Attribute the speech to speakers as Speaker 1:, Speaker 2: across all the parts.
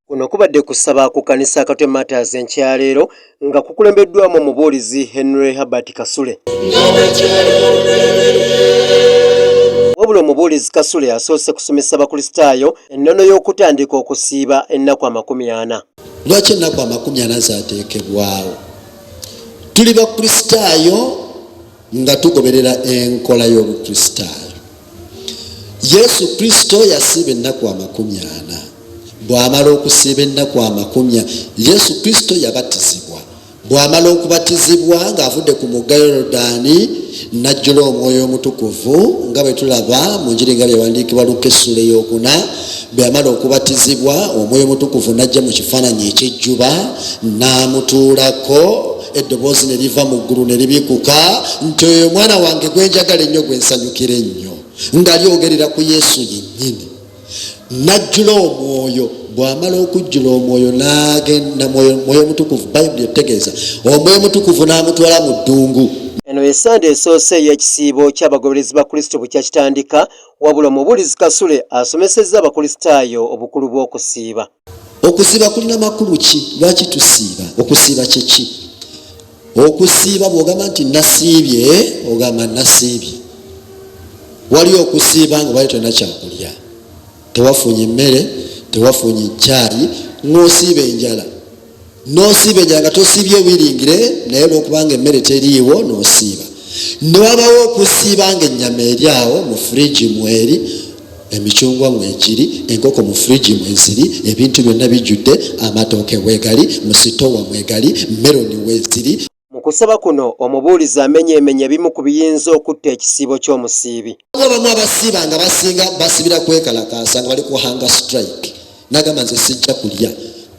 Speaker 1: kuno kubadde kusaba ku kanisa akatwe matas enkyaleero nga kukulembeddwamu omubuulizi henry herbert kasule wabula omubuulizi kasule yasoose kusomesa abakristaayo ennono y'okutandika okusiiba ennaku amakumi ana lwaki ennaku
Speaker 2: amakumi ana zateekebwawo tuli bakristaayo nga tugoberera enkola y'obukristaayo yesu kristo yasiiba ennaku amakumi ana bw'amala okusiiba ennaku amakumi yesu kristo yabatizibwa bwamala okubatizibwa ng'avudde ku mugga yorodaani najjula omwoyo omutukuvu nga bwe tulaba mu njiri nga byewandiikibwa luka essula eyokuna bweyamala okubatizibwa omwoyo omutukuvu najja mu kifaananyi ekyejjuba n'amutuulako eddoboozi ne liva mu ggulu ne libikuka nti oyo omwana wange gwe njagala ennyo gwe nsanyukira ennyo nga lyogerera ku yesu yennyini najjula omwoyo bwamala okujjula omwoyo nagenda mwoyo omutukuvu bayibuli etegeeza omwoyo omutukuvu n'amutwala mu ddungu eno esande
Speaker 1: esoose ey'ekisiibo ky'abagoberezi ba kristo bwe kyakitandika wabula omubuulizi kasule asomesezza abakristaayo obukulu bw'okusiiba okusiiba
Speaker 2: kulina makulu ki lwaki tusiiba okusiiba kyeki okusiiba bwogamba nti nasiibye ogamba nasiibye wali okusiiba nga bali tolina kyakulya tewafunye emmere tewafunye caayi ng'osiiba enjala nosiibejanga tosiibye wiringire naye olwokubanga emmere teriiwo nosiiba newabawo okusiibanga ennyama eri awo mu furiji mweri emicungwa mwegiri enkoko mu furiji mweziri ebintu byonna bijjudde amatooke wegali musitowa mwegali meroni weziri Mu kusaba kuno
Speaker 1: omubuulizi amenyeemenya ebimu ku biyinza okutta ekisiibo ky'omusiibi. Abamu abasiiba
Speaker 2: nga basinga basibira kwekalakaasa nga bali ku hanga strike nagamba nze sijja kulya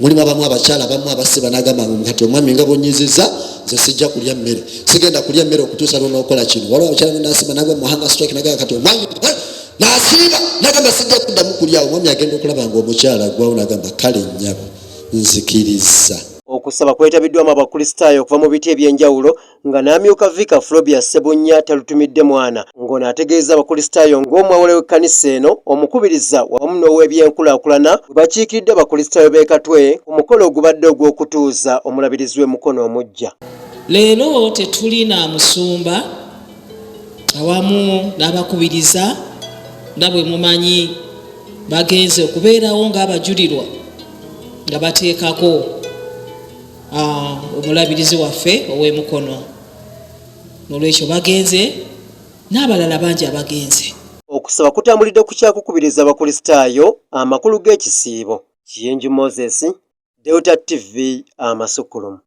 Speaker 2: mulimu abamu abakyala abamu abasiba nagamba nga kati omwami nga bunyiziza nze sijja kulya mmere sigenda kulya mmere okutuusa lwonaokola kino waliwo abakyala nasiba nagwa muhanga strike nagamba kati omwami nasiba nagamba sijja kuddamu kulyawo omwami agenda okulaba nga omukyala gwawo nagamba kale nnyabo nzikiriza Okusaba
Speaker 1: kwetabiddwamu abakristaayo okuva mu biti eby'enjawulo nga n'amyuka Viika Flobia Ssebunnya talutumidde mwana ng'ono ategeeza abakristaayo ng'omwawule w'ekkanisa eno, omukubiriza wamu n'ow'ebyenkulaakulana bwe bakiikiridde abakristaayo b'e Katwe ku mukolo ogubadde ogw'okutuuza omulabirizi w'e Mukono omuggya. Leero
Speaker 3: tetuli na musumba awamu n'abakubiriza nga bwe mumanyi bagenze okubeerawo ng'abajulirwa nga bateekako ah, omulabirizi waffe ow'emukono nolwekyo bagenze n'abalala bangi abagenze okusaba kutambulidde
Speaker 1: ku kyakukubiriza abakulisitaayo amakulu g'ekisiibo kiyenju moses delta tv amasukulumu